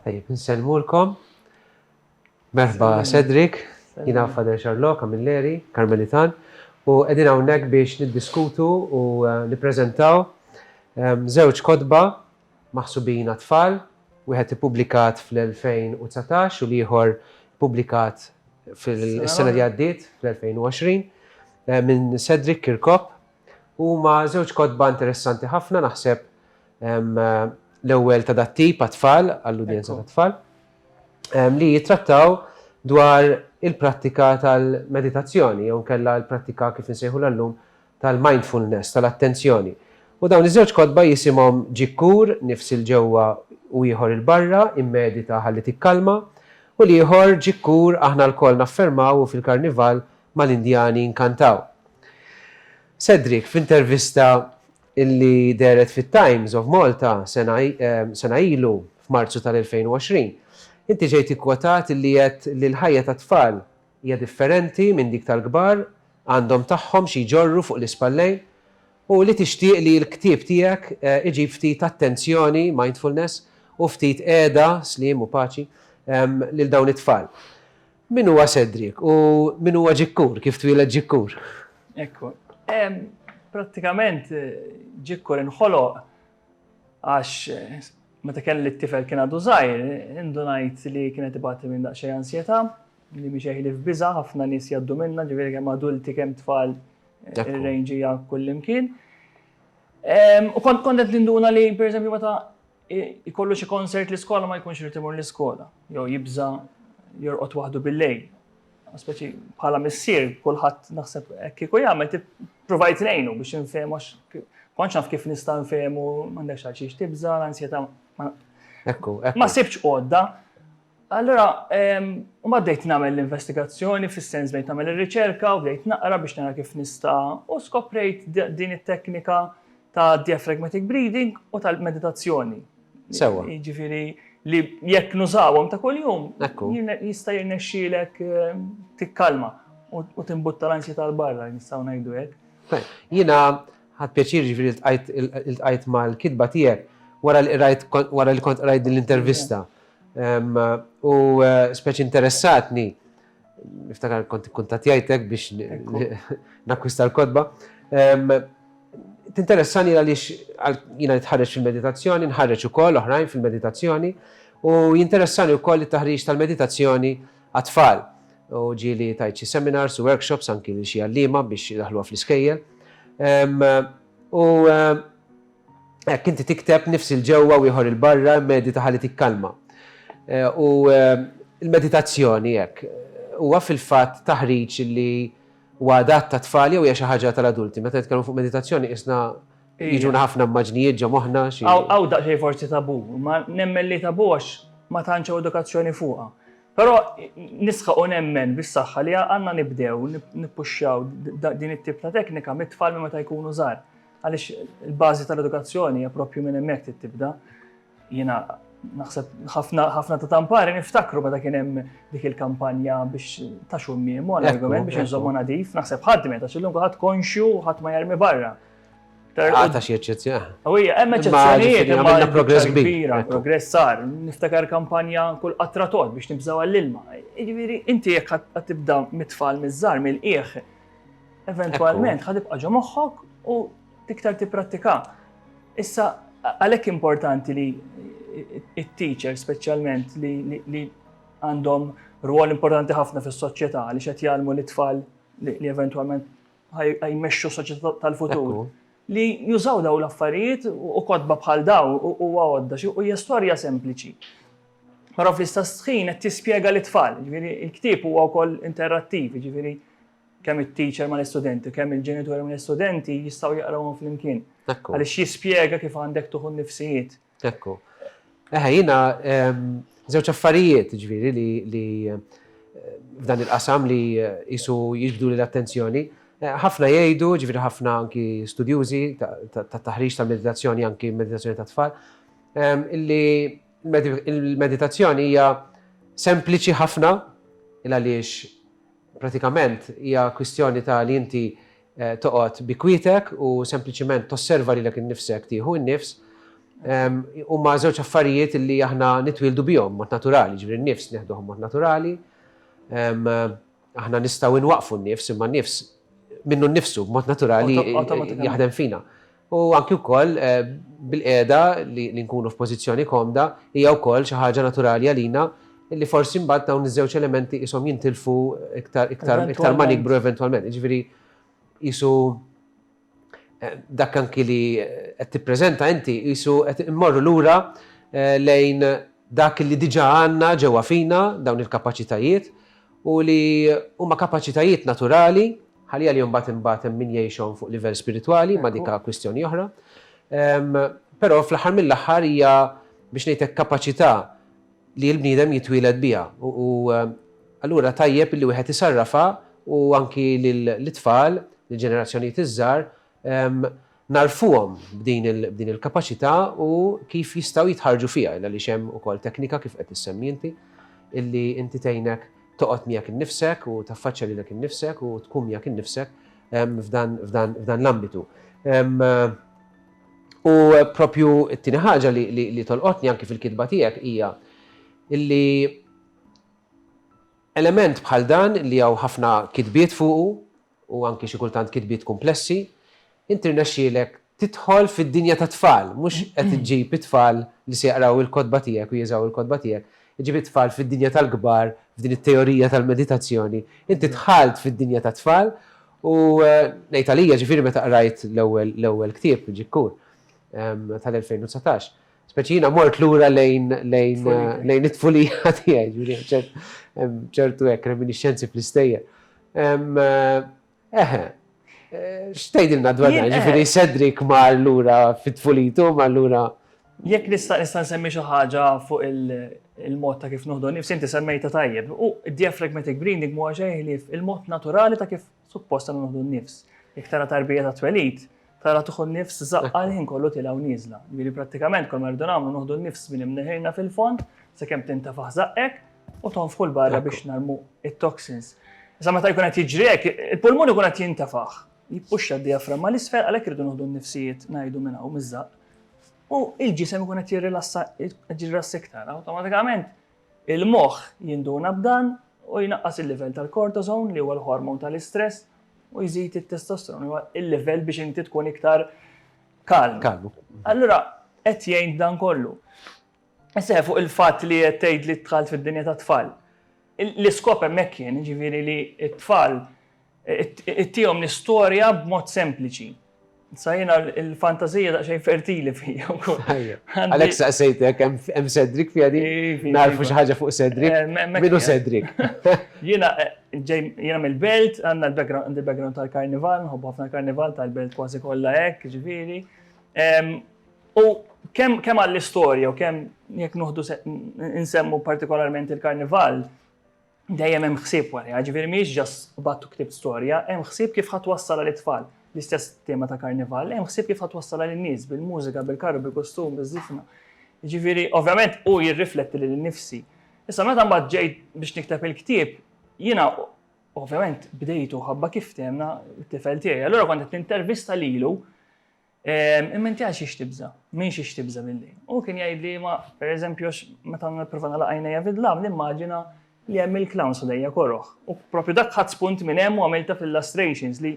Tajjeb, nsellmulkom. Merħba Cedric, jina Fader Charlot, Kamilleri, Karmelitan, u edin hawnhekk biex niddiskutu u eh, nippreżentaw żewġ ehm, kodba maħsubin għat-tfal, wieħed ippubblikat fl-2019 u l-ieħor ippubblikat fis-sena li għaddiet, fl-2020, minn Cedric Kirkop. Huma żewġ kotba interessanti ħafna, naħseb l-ewwel ta' dat-tip għat-tfal, għall-udjenza tat-tfal, li jittrattaw dwar il-prattika tal-meditazzjoni, jew inkella l-prattika kif insejħulha llum tal-mindfulness, tal-attenzjoni. U dawn iż-żewġ kotba jisimhom Ġik Kur, Nifs 'il ġewwa u ieħor 'il barra, Immedita ħalli tikkalma, u l-ieħor Ġik Kur, Aħna lkoll naffermaw u fil-Karnival mal-Indjani nkantaw. Cedric, f'intervista li dehret fit-Times of Malta sena ilu, f'Marzu tal-2020, inti ġejt ikkwotat li għedt li l-ħajja tat-tfal Hija differenti minn dik tal-kbar, għandhom tagħhom xi jġorru fuq l-ispallejn, u li tixtieq li l-ktieb tiegħek iġib ftit attenzjoni, mindfulness, u ftit qiegħda, sliem u paċi, lil dawn it-tfal. Min huwa Cedric u min huwa Ġikkur, kif twieled Ġikkur? Ekku. Prattikament Ġikkur inħoloq għax meta kelli t-tifel kien għadu żgħir, indunajt li kien qed ibati minn daqsxejn ansjetà, Li mhix eħli f'biża' ħafna nies jgħaddu minnha, ġifieri kemm adulti kemm tfal ir-range hija kullimkien. U kont kont qed ninduna li pereżempju meta jkollu xi konsert l-iskola ma jkunx irid imur l-iskola, jew jibża' jorqod waħdu bil-lejl. Speċi bħala missier kulħadd naħseb hekk kieku jagħmel provajt ngħinu biex infehmu kontx naf kif nista' nfehmu m'għandekx għal xiex tibża' l-ansjetà. Ekku, Ma sibx għodda. Allura, mbagħad bdejt nagħmel l-investigazzjoni, fis-sens bdejt nagħmel ir-riċerka u bdejt naqra biex nara kif nista' u skoprejt din it-teknika ta' diaphragmatic breathing u tal-meditazzjoni. Sewwa. Jiġifieri li jekk nużawhom ta' kuljum, jista' jirnexxielek tikkalma u timbutta l-ansjetà 'l barra, nistgħu ngħidu hekk. Jiena ħadt pjaċir jiġifieri ltqajt mal-kitba tiegħek wara li qrajt wara li kont qrajt din l-intervista. U speċi interessatni, niftakar kont kuntatjajtek biex nakwista l-kodba. Tinteressani għaliex jina nitħarreġ fil-meditazzjoni, nħarreġ ukoll oħrajn fil-meditazzjoni, u jinteressani wkoll it-taħriġ tal-meditazzjoni għat-tfal. U ġieli tajt xi seminars u workshops anki lil xi għalliema biex idaħħluha fl-iskejjel. U Hekk inti tikteb nifs 'il ġewwa u ieħor 'il barra, immedita ħalli tikkalma. U l-meditazzjoni hekk huwa fil-fatt taħriġ li huwa adatt tat-tfal jew hija xi ħaġa tal-adulti? Meta nitkellmu fuq meditazzjoni qisna jiġuna ħafna immaġnijiet ġo moħħna xi. Hawn daqsxejn forsi tabu, imma nemmen li tabu għax ma tantx hawn edukazzjoni fuqha. Però nisħaq u nemmen bis-saħħa li għandna nibdew nippuxxjaw din it-tip ta' teknika mit-tfal minn meta jkunu żgħar. Għaliex il-bażi tal-edukazzjoni hija proprju minn hemmhekk trid tibda. Jiena naħseb ħafna ta' tampari niftakru meta kien hemm dik il-kampanja biex ta' xummiem u argument biex nżommu nadif, naħseb ħadd meta xillum ħadd konxju ħadd ma jarmi barra. Għata xie eċċezzjoni. Għawija, hemm eċċezzjonijiet għamilna progress kbira, progress sar, niftakar kampanja kull qatra tod biex nibżaw għall-ilma. Jiġifieri, inti jekk għat tibda mit-tfal miż-żar mill-qieħ, eventwalment ħad ibqa' ġo moħħok u tiktar tipprattika. Issa għalhekk importanti li it-teacher speċjalment li għandhom rwol importanti ħafna fis-soċjetà li qed jgħallmu l-itfal li eventwalment jmexxu soċjetà tal-futur li jużaw daw l-affarijiet u kodba bħal daw u għodda u hija storja sempliċi. Però fl-istess ħin qed tispjega lit-tfal, jiġifieri l-ktieb huwa wkoll interrattiv, jiġifieri kemm it-teacher mal-istudenti, kemm il-ġenituri mal-istudenti jistgħu jaqrawhom flimkien. Għaliex jispjega kif għandek tuħu n-nifsijiet. Ekku. Eħe, jiena żewġ affarijiet, jiġifieri li f'dan il-qasam li jisu jiġbdu lil attenzjoni. Ħafna jgħidu, ġifieri ħafna anki studjużi ta' taħriġ ta' meditazzjoni anki meditazzjoni ta' tfal, illi Il-meditazzjoni hija sempliċi ħafna il għaliex pratikament hija kwistjoni ta' li inti eh, toqgħod bi kwietek u sempliċiment tosserva lilek innifsek tieħu n-nifs. Ehm, huma żewġ affarijiet li aħna nitwildu bihom mod naturali, ġifieri n-nifs neħduhom mod naturali. Ehm, Aħna nistgħu inwaqfu n-nifs imma n-nifs minnu nnifsu b'mod naturali jaħdem fina. U anki wkoll eh, bil-qiegħda li nkunu f'pożizzjoni komda hija wkoll xi ħaġa naturali għalina li forsi mbagħad dawn iż-żewġ elementi qishom jintilfu iktar iktar iktar ma nikbru eventwalment. Jiġifieri jisu Dak anki li qed tippreżenta inti qisu qed immorru lura lejn dak li diġà għandna ġewwa fina, dawn il-kapaċitajiet, u li huma kapaċitajiet naturali, ħalli għalihom mbagħad imbagħad hemm min jgħixhom fuq livell spiritwali, imma dik kwistjoni oħra. Però fl-aħħar mill-aħħar hija, biex ngħid hekk, kapaċità li l-bniedem jitwieled biha u allura tajjeb illi wieħed isarrafha u anki lit-tfal, lill-ġenerazzjonijiet iż-żgħar nagħrfuhom b'din il-kapaċità u kif jistgħu jitħarrġu fiha għaliex hemm ukoll teknika kif qed issemmi inti illi inti tgħinek toqgħod miegħek innifsek u taffaċċja lilek innifsek u tkun miegħek innifsek f'dan l-ambitu. U proprju t-tieni ħaġa li tolqotni anki fil-kitba tiegħek hija li element bħal dan li hawn ħafna kitbiet fuqu u anki xi kultant kitbiet kumplessi, inti rnexxielek tidħol fid-dinja tat-tfal, mhux qed iġġib it-tfal li se jaqraw il-kotba tiegħek u jużaw il-kotba tiegħek, iġġib it-tfal fid-dinja tal-kbar, f'din it-teorija tal-meditazzjoni. Inti dħalt fid-dinja tat-tfal U ngħid għalija, ġifieri meta qrajt l-ewwel ktieb, Ġikkur, tal-2019, speċi jiena mort lura lejn lejn it-tfulija tiegħi, ġifieri ċertu hekk reminisċenzi fl-istejjer. Eħe, x'tgħidilna dwar dan, ġifieri Cedric mar lura fit-tfulitu, mar lura Jekk nista' nista' nsemmi xi ħaġa fuq il-mod ta' kif noħdu nifs, inti semmejta tajjeb. U diaphragmatic breathing mhuwa xejn ħlief il-mod naturali ta' kif suppost għandna noħdu nifs. Jekk tara tarbija ta' twelid, tara tuħu nifs żaqqa l-ħin kollu tilgħa u nieżla. Jiġifieri prattikament kol ma rridu nagħmlu noħdu nifs minn imneħirna fil-fond sakemm tintefaħ żaqqek u tonfħu l barra biex narmu it-toxins. Issa meta jkun qed jiġri hekk, il-pulmun ikun qed jintefaħ. Jippuxxa d-dijaframma 'l isfel għalhekk irridu noħdu n-nifsijiet ngħidu minn hawn miż-żaqq. U l-ġisem ikun qed jirrilassa qed jirrilassa iktar. Awtomatikament il-moħħ jinduna b'dan u jnaqqas il-livell tal-cortisone li huwa l-hormon tal-istress u jżid it-testosterone huwa il-livell biex inti tkun iktar kalm. Kalm. Allura qed jgħin dan kollu. Issa fuq il-fatt li qed tgħid li dħalt fid-dinja tat-tfal. L-iskop hemmhekk kien ġifieri li t-tfal Ittihom l-istorja b'mod sempliċi. Sa jiena l-fantazija daqsxejn fertili fija wkoll. Għalhekk saqsejtek hemm Cedric fija di narfu xi ħaġa fuq Cedric. Eh, Minu Cedric? Jiena eh, jiena mill-belt, għandna l-background tal-karnival, nħobbu ħafna karnival tal-belt kważi kollha hekk, ġifieri. U kemm kemm għall-istorja u kemm jekk nuħdu nsemmu partikolarment il-karnival, dejjem hemm ħsieb warajha, ġifieri mhijiex just qbadt u ktibt storja, hemm ħsieb kif ħa twassal għal it-tfal. L-istess tema ta' Karnival, hemm ħsieb kif ħa twassal għal in-nies bil-mużika, bil-karru, bil-kostum, biz-żifna. Jiġifieri, ovvjament hu jirrifletti lili nnifsi. Issa meta mbagħad ġejt biex nikteb il-ktieb, jiena ovvjament bdejtu ħabba kif fthemna t-tifel tiegħi. Allura kont qed nintervista lilu Imma inti għal xiex tibża'? Minn xiex tibża' billi? U kien jgħidli ma pereżempju għax meta nipprova nagħlaq għajnejja fid-dlam nimmaġina li hemm il-clowns ħdejja koroh. U proprju dak ħadt spunt minn hemm u għamiltha f'illustrations li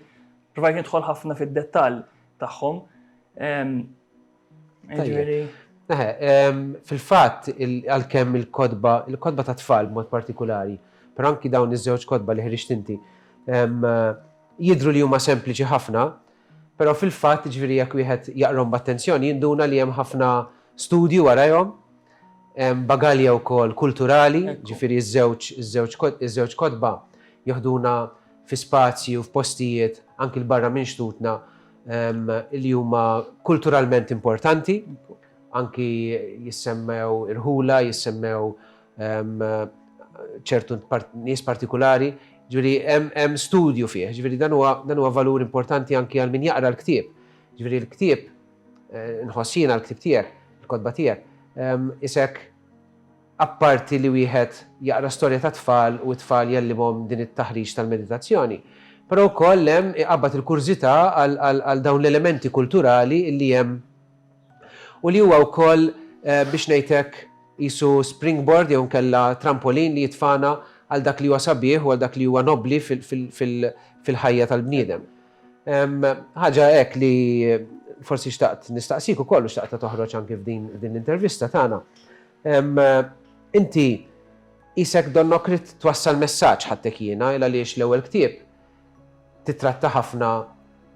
provajt nidħol ħafna fid-dettall tagħhom. Jiġifieri. Fil-fatt għalkemm il-kotba, il-kotba tat-tfal b'mod partikulari, però anki dawn iż-żewġ kotba li ħriġt inti, jidhru li huma sempliċi ħafna, Però fil-fatt, jiġifieri jekk wieħed jaqrahom b'attenzjoni jinduna li hemm ħafna studju warajhom, hemm bagalja wkoll kulturali, jiġifieri ż-żewġ kotba jeħduna fi spazji u f'postijiet anki 'l barra minn xtutna li huma kulturalment importanti, anki jissemmew irħula, jissemmew ċertu nies partikulari, ġviri hemm studju fih, ġviri dan huwa valur importanti anki għal min jaqra l-ktieb. Ġviri l-ktieb, eh, nħossina l-ktieb tiegħek, il-kodba tiegħek, isek apparti li wieħed jaqra storja ta' tfal u t-tfal jellibhom din it-taħriġ tal-meditazzjoni. Però wkoll hemm iqabbad il-kurżità għal dawn l-elementi kulturali li hemm u li huwa wkoll biex ngħid hekk qisu springboard jew inkella trampolin li jitfagħna għal dak li huwa sabiħ u għal dak li huwa nobbli fil-ħajja tal-bniedem. Ħaġa hekk li forsi xtaqt nistaqsik ukoll u xtaqt toħroġ anke f'din l-intervista tagħna. Inti isek donnok rid twassal messaġġ ħadtek jiena il għaliex l-ewwel ktieb Tittratta ħafna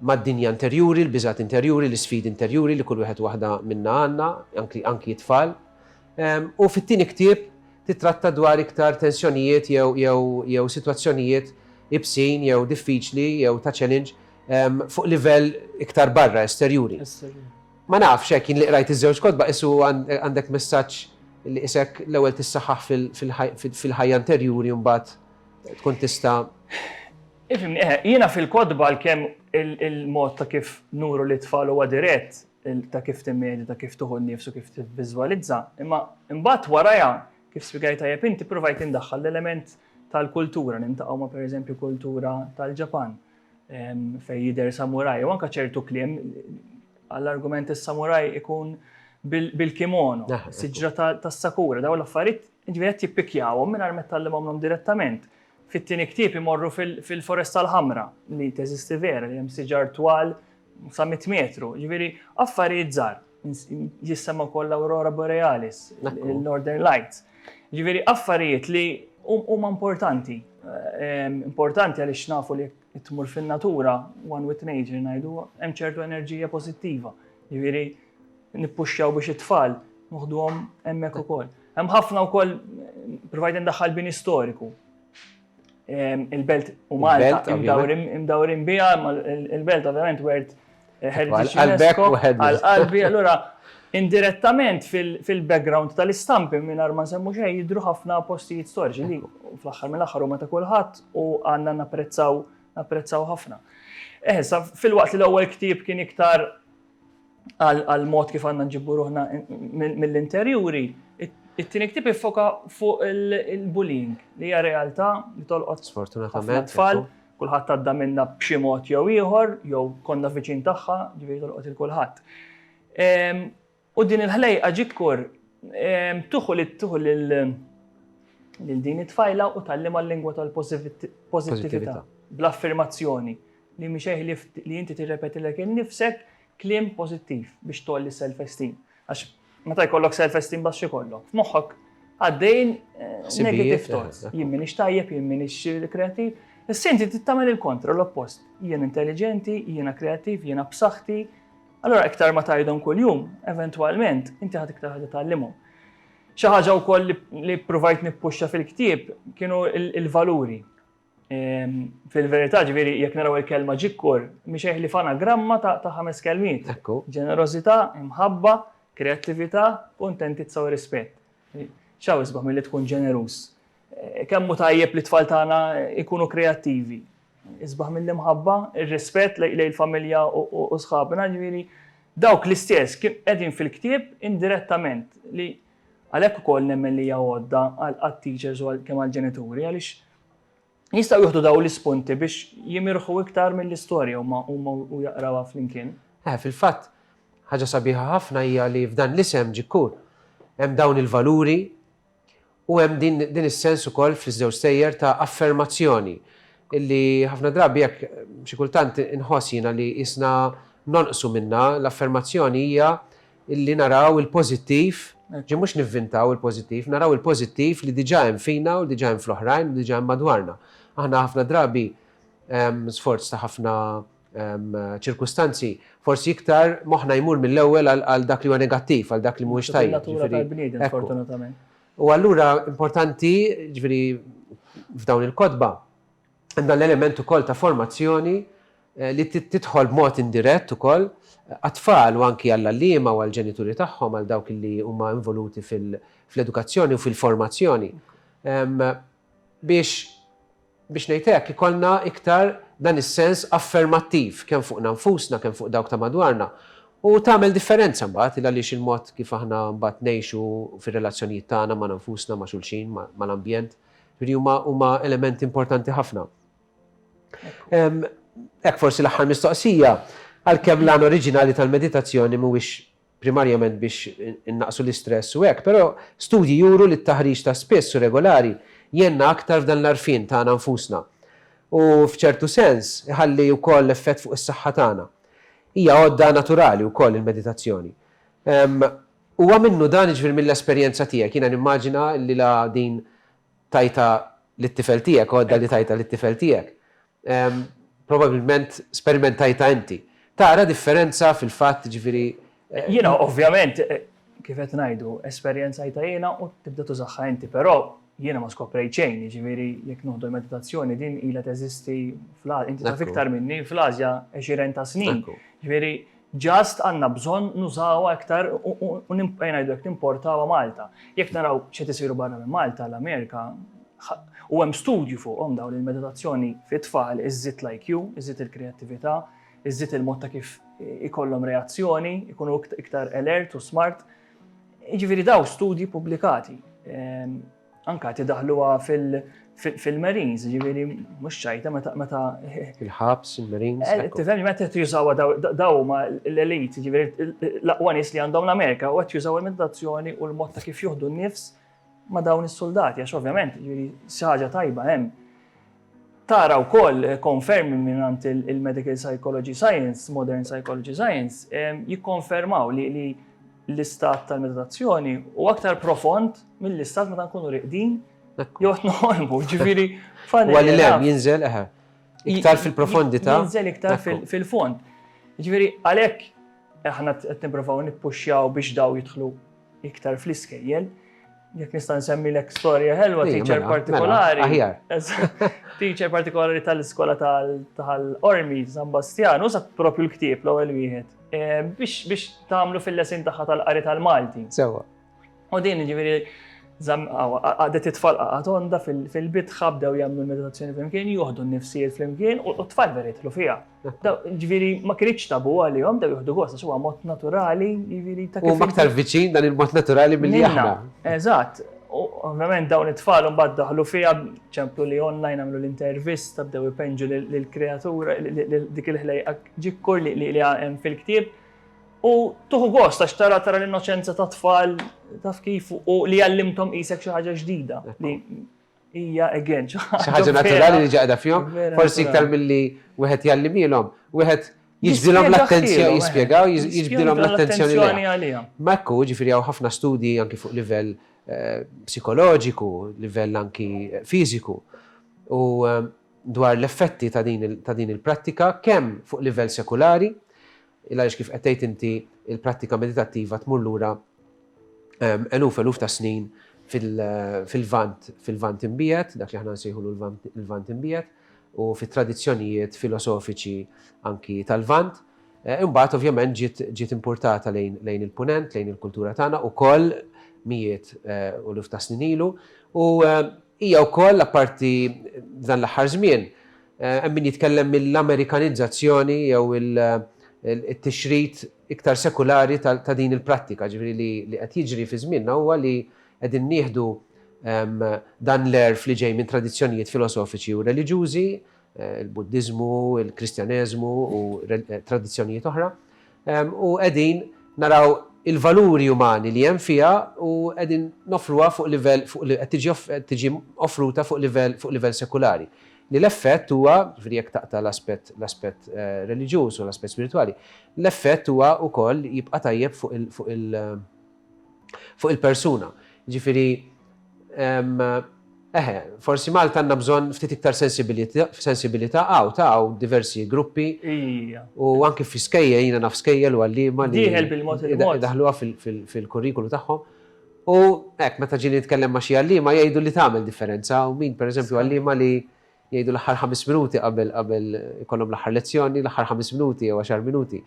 mad-dinja interjuri, l-biżgħat interjuri, l-isfidi interjuri li kull wieħed u waħda minna għandna, anki t-tfal. U fit-tieni ktieb tittratta dwar iktar tensjonijiet jew sitwazzjonijiet ibsin jew diffiċli jew ta' challenge fuq livell iktar barra, esterjuri. Ma nafx, hekk jien li qrajt iż-żewġ kotba qisu għandek messaġġ li qisek l-ewwel tissaħħaħ fil-ħajja interjuri u mbagħad tkun tista' Ifimni, eħe, jiena fil-kodba l-kem il-mod ta' kif nuru li tfal huwa dirett, ta' kif timmedi, ta' kif tuħu n-nifsu, kif tivviżwalizza, imma imbagħad warajha kif spjegajt tajjeb inti provajt indaħħal l-element tal-kultura, nintaqgħu ma' pereżempju kultura tal-Ġapan fejn jidher samuraj, u anke ċertu kliem għall-argument is-samuraj ikun bil-kimono, siġra tas-sakura, daw l-affarijiet Jiġifieri qed jippikjawhom mingħajr ma jtgħallimhomlhom direttament. Fit-tieni ktieb imorru fil-Foresta l-Ħamra, li teżisti vera, li hemm siġar twal sa mitt metru. Jiġifieri affarijiet żgħar. Jissemma wkoll l-Aurora Borealis, il-Northern Lights. Jiġifieri affarijiet li huma importanti. Importanti għaliex nafu li jekk tmur fin-natura, one with nature ngħidu, hemm ċertu enerġija pożittiva. Jiġifieri nippuxxjaw biex it-tfal noħduhom hemmhekk ukoll. Hemm ħafna wkoll provajt indaħħal bini storiku. Il-belt u Malta imdawrin biha, il-belt ovvjament wert eh, heritage UNESCO għal-qalbi, allura indirettament fil-background tal-istampi minn ma semmu xejn jidru ħafna postijiet storiċi li fl-aħħar mill-aħħar huma ta' kulħadd u għandna napprezzaw napprezzaw ħafna. Eħsa, eh, fil-waqt li l-ewwel ktieb kien iktar għal mod kif għandna nġibbu ruħna mill-interjuri, it-tieni ktib iffoka fuq il-bullying li hija realtà li tolqot sfortunatament tfal, kulħadd għadda minna b'xi mod jew ieħor, jew konna viċin tagħha, ġifieri tolqot il kulħadd. Ehm, u din il-ħlejqa ġikkur ehm, tuħu li tuħu lil din it-tfajla u tallima l-lingwa tal-pożittività bl-affermazzjoni li mhi xejn ħlief li inti tirrepetilek innifsek kliem pożittiv biex tgħolli s-self-esteem. Għax meta jkollok self-esteem baxx ikollok. F'moħħok għaddejn eh, negative thoughts. Jien minix tajjeb, jien minix eh, kreativ. Issa inti tittamel il-kontra, l-oppost. Jien intelligenti, jiena kreativ, jiena b'saħħti. Allora iktar ma tajdhom kuljum, eventwalment, inti ħad iktar ħad tgħallimhom. Xi ħaġa wkoll li provajt nippuxxa fil-ktieb kienu il-valuri. Ehm, fil-verità ġviri, jek naraw il-kelma ġikkur, miexeħ li fana gramma ta' ħames kelmiet. Ekku. Ġenerozita, imħabba, kreativita, kontentizza u rispet. ċaw isbaħ mill-li tkun ġenerus. Eh, kemmu tajjeb li tfal tagħna ikunu kreativi. Isbaħ mill imħabba il-rispet lej il-familja u sħabna ġviri. Dawk l-istess kien edin fil-ktib indirettament li għalek u koll nemmen li għodda għal-teachers u għal-kem għal-ġenituri għalix Jistgħu jieħdu dawn l-ispunti biex jimirħu iktar mill-istorja huma u jaqrawha flimkien. Eh, fil-fatt, ħaġa sabiħa ħafna hija li f'dan l-isem ġikkur hemm dawn il-valuri u hemm din, din is-sens ukoll fl-iżewġ sejjer ta' affermazzjoni illi ħafna drabi jekk xi kultant inħoss jiena li isna nonqsu minna l-affermazzjoni hija illi naraw il-pożittiv, ġi mhux nivvintaw il-pożittiv, naraw il-pożittiv li diġà hemm fina u li diġà hemm fl-oħrajn u li diġà hemm madwarna. Aħna ħafna drabi, sforz ta' ħafna ċirkustanzi, forsi iktar moħħna jmur mill-ewwel għal dak li huwa negattiv, għal dak li mhuwiex tajjeb. Hija natura tal-bniedem, fortunatament. U allura importanti, jiġifieri f'dawn il-kotba, Għandna l-element ukoll ta' formazzjoni li tidħol b'mod indirett ukoll għat-tfal u anki għall-għalliema u għall-ġenituri tagħhom għal dawk li huma involuti fl-edukazzjoni u fil-formazzjoni biex biex ngħid hekk ikollna iktar dan is-sens affermattiv kemm fuqna nfusna kemm fuq dawk ta' madwarna u tagħmel differenza mbagħad għaliex il-mod kif aħna mbagħad ngħixu fir-relazzjonijiet tagħna magħna nfusna ma' xulxin mal-ambjent Ġifieri huma huma elementi importanti ħafna. Hekk forsi l-aħħar mistoqsija, għalkemm l-għan oriġinali tal-meditazzjoni mhuwiex primarjament biex innaqsu l-istress u hekk, però studji juru li t-taħriġ ta' spiss u regolari jgħinna aktar f'dan l-għarfien tagħna nfusna u, f'ċertu sens, iħalli wkoll effett fuq is-saħħa tagħna. Hija għodda naturali wkoll il-meditazzjoni. Huwa minnu dan, jiġifieri mill-esperjenza tiegħek. Jiena nimmaġina li la din tajtha lit-tifel tiegħek, għodda li tajtha lit-tifel tiegħek. Probabbilment sperimentajtha inti. Tara differenza fil-fatt, jiġifieri. Jiena ovvjament, kif qed ngħidu, esperjenzajtha jiena u tibda tużaha inti. Però jiena ma skoprejt xejn, jiġifieri jekk noħdu l-meditazzjoni din ilha teżisti fl-Asja, inti taf iktar minni, fl-Asja għexieren ta' snin. Jiġifieri Just għandna bżonn nużawha iktar u ngħidu hekk nimportawha Malta. Jekk naraw x'qed isiru barra minn Malta, l-Amerika, u hemm studju fuqhom dawn li l-meditazzjoni fit-tfal iżżid l-IQ, iżżid il-kreattività, iżżid il-mod ta' kif ikollhom reazzjoni, ikunu iktar alert u smart. Jiġifieri dawn studji pubblikati. Anka tidaħluha fil-Marines, ġiviri, mux ċajta, meta. Il-ħabs, il-Marines. Eh, tifhem, meta qed jużawa daw ma l-elit, ġiviri, l-aqwa nies li għandhom l-Amerika, u qed jużaw il-meditazzjoni u l-mod ta' kif juħdu n-nifs ma dawn is-soldati, għax ovvjament, ġiviri, xaġa tajba hemm. Tara wkoll konfermi mingħand il-Medical Psychology Science, Modern Psychology Science, jikkonfermaw li l-istat tal-meditazzjoni huwa aktar profond mill-istat meta nkunu riqdin jew qed noħolmu, ġifieri funnily enough. Huwa lil hemm jinżel, eħe. Iktar fil-profondità. Jinżel iktar fil-fond. Ġifieri għalhekk aħna qed nipprovaw nippuxxjaw biex dawn jidħlu iktar fl-iskejjel. Jek nista' nsemmilek storja ħelwa Iva, teacher mela, mela, partikolari. aħjar. Eżatt. Teacher partikolari tal-iskola tal- tal-Ormi San Bastjan, użat propju l-ktieb l-ewwel wieħed. eh, Biex biex tagħmlu fil-lesin tagħha tal-qari tal-Malti. Sewa. U din ġifieri zam- aw- għadet it-tfal qaqgħet onda fil- fil-bitħa bdew jagħmlu meditazzjoni flimkien, joħdu n-nifsijiet flimkien u u t-tfal vera jidħlu fiha. Ġviri, ma kienx tabu għalihom, daw juhdu gost, għax huwa mod naturali, ġviri ta' kif. U aktar viċin dan il-mod naturali mill aħna. Eżatt, ovvjament dawn it-tfal mbagħad daħlu fiha ċemplu li online għamlu l-intervista bdew ipenġu lill-kreatura dik il-ħlejqa ġikkur li hemm fil-ktieb. U tuħu gost għax tara tara l-innoċenza ta' tfal taf kif u li għallimtom qisek xi ħaġa ġdida. hija again xi ħaġa naturali li ġaqda fihom, forsi iktar milli wieħed jgħallimilhom, wieħed jiġbdilhom l-attenzjoni jispjegaw, jiġbdilhom l-attenzjoni għalihom. Ma ekku, ġifieri hawn ħafna studji anki fuq livell eh, psikoloġiku, livell anki eh, fiżiku. U eh, dwar l-effetti ta' din il-prattika kemm fuq livell sekulari, il għaliex kif qed tgħid inti l-prattika meditattiva tmur lura eluf eluf ta' snin fil-Lvant, fil-Lvant imbiegħed, dak li aħna nsejħulu l-Lvant imbiegħed, u fit-tradizzjonijiet filosofiċi anki tal-Lvant. Eh, imbagħad ovvjament ġiet importata lejn il-punent, lejn il-kultura tagħna ukoll mijiet eh, u luf ta' snin ilu u eh, Hija wkoll, apparti f'dan l-aħħar żmien, hemm min jitkellem mill-Amerikanizzazzjoni jew it-tixrid iktar sekulari ta' din il-prattika, jiġifieri li qed jiġri fi żmienna huwa li qegħdin nieħdu dan l-għerf li ġej minn tradizzjonijiet filosofiċi u reliġjużi il-Buddiżmu, il-Kristjaneżmu u tradizzjonijiet oħra, u qegħdin naraw il-valuri umani li hemm fiha u qegħdin noffruha fuq livell fuq li qed tiġi offruta fuq livell fuq livell sekulari. Li l-effett huwa, ġifieri jekk taqta' l-aspett l-aspett reliġjuż u l-aspett spiritwali, l-effett huwa wkoll jibqa' tajjeb fuq il fuq il fuq il-persuna. Ġifieri, eħe, forsi Malta għandna bżonn ftit iktar sensibilità hawn ta' hawn diversi gruppi. U anke fi skejjel, jiena naf skejjel u għalliema li daħluha fil-kurrikulu tagħhom. U hekk, meta ġieli nitkellem ma' xi għalliema jgħidu li tagħmel differenza u min, pereżempju, għalliema li Jgħidu l-aħħar ħames minuti qabel qabel ikollhom l-aħħar lezzjoni, l-aħħar ħames minuti jew għaxar minuti.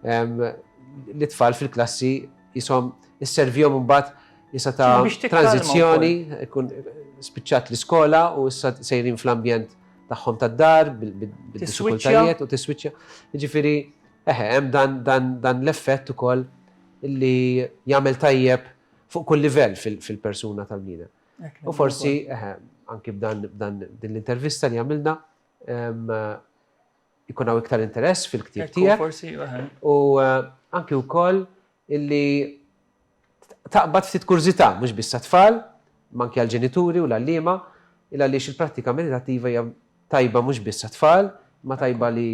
Lit-tfal fil-klassi jisom isservihom imbagħad jista' ta' tranzizzjoni, ikun spiċċat l-iskola u issa sejrin fl-ambjent tagħhom tad-dar bil-diffikultajiet u tiswiċċja. Jiġifieri eħe hemm dan l-effett ukoll li jagħmel tajjeb fuq kull livell fil-persuna tal-bniedem. U forsi, anki b'dan din l-intervista li għamilna, ikun hawn iktar interess fil-ktieb tiegħek. Forsi, u anki wkoll illi taqbad ftit kurżità mhux biss għat-tfal, ma anki għall-ġenituri u l-għalliema, il għaliex il-prattika meditattiva hija tajba mhux biss għat-tfal, ma tajba li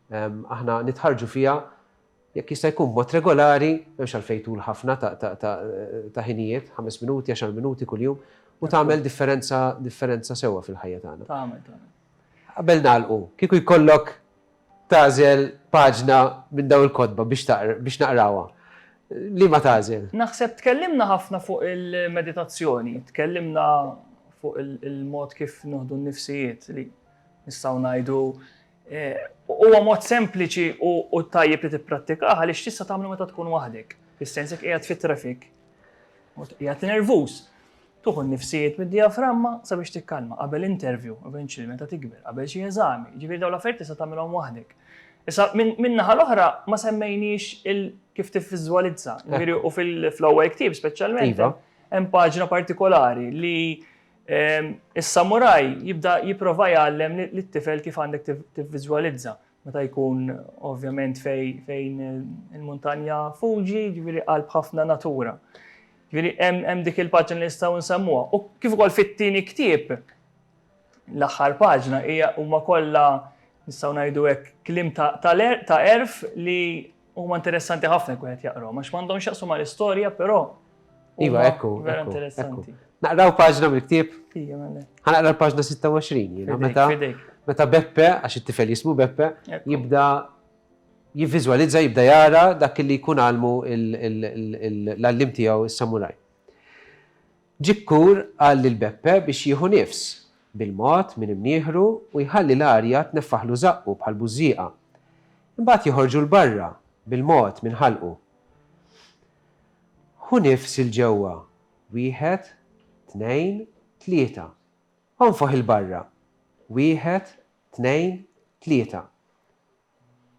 aħna nitħarrġu fiha jekk jista' jkun b'mod regolari, m'hemmx għalfejn tul ħafna ta' ħinijiet, ħames minuti, għaxar minuti kuljum, u tagħmel differenza differenza sewwa fil-ħajja tagħna. Tagħmel, tagħmel. Qabel nagħlqu, kieku jkollok tagħżel paġna minn dawn il-kotba biex naqrawha, liema tagħżel? Naħseb tkellimna ħafna fuq il-meditazzjoni, tkellimna fuq il-mod kif nieħdu n-nifsijiet li nistgħu ngħidu Huwa mod sempliċi u tajjeb li tipprattikah għaliex tista' tagħmlu meta tkun waħdek, fis-sens jekk qiegħed fit-traffic u qiegħed nervuż, tuħu n-nifsijiet mid-dijaframma sabiex tikkalma qabel interview, eventually meta tikber, qabel xi eżami, jiġifieri dawn l-affarijiet tista' tagħmilhom waħdek. Issa min-naħa l-oħra ma semmejniex kif tivviżwalizza, jiġifieri u fl-awake team speċjalment hemm paġna partikolari li Is-samuraj jibda jipprova jgħallem lit-tifel kif għandek tivviżwalizza meta jkun ovvjament fejn il-muntanja Fuji, ġifieri qalb ħafna natura. Ġifieri hemm dik il-paġna li nistgħu nsemmuha. U kif ukoll fit-tieni ktieb, l-aħħar paġna hija huma kollha nistgħu ngħidu hekk kliem ta' għerf li Huma interessanti ħafna jkun qed jaqraw, għax m'għandhom x'jaqsu mal-istorja, però. Iva, ekku. Vera interessanti. Naqraw paġna mill-ktieb? Ija, mela. Ħanaqra l-paġna 26, jiena meta. Meta Beppe, għax it-tifel jismu Beppe, jibda jivvizualizza, jibda jara dak li jkun għalmu l-allim tiegħu s-samuraj. Ġikkur qal lil Beppe biex jieħu nifs, bil-mod, minn imnieħru u jħalli l-arja tneffaħlu żaqqu bħal bużżieqa. Imbagħad joħorġu 'l barra, bil-mod, minn ħalqu. Ħu nifs 'il ġewwa, wieħed, tnejn, tlieta. Onfoħ 'il barra, wieħed, tnejn, tlieta.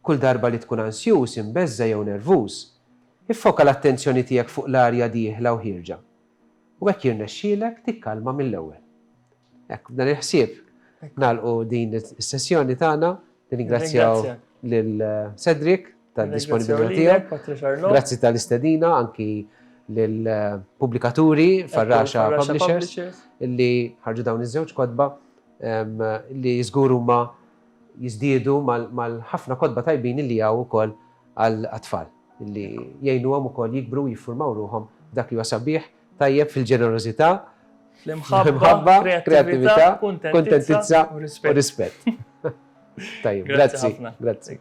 Kull darba li tkun ansjuż, imbeżża' jew nervuż, iffoka l-attenzjoni tiegħek fuq l-arja dieħla u ħierġa, u hekk jirnexxielek tikkalma mill-ewwel. Hekk, b'dan il-ħsieb nagħlqu din is-sessjoni tagħna. Nirringrazzjaw lil Cedric tad-disponibilità tiegħu. Grazzi tal-istedina anki lill-pubblikaturi Farrasha Publishers li ħarġu dawn iż-żewġ kotba li żgur huma jiżdiedu mal-ħafna kotba tajbin li hawn ukoll għat-tfal, li jgħinuhom ukoll jikbru u jiffurmaw ruħhom f'dak li huwa sabiħ, tajjeb fil-ġenerożità, fl-imħabba, kreattività, kuntentizza u rispett. Tajjeb, grazzi. Grazzi.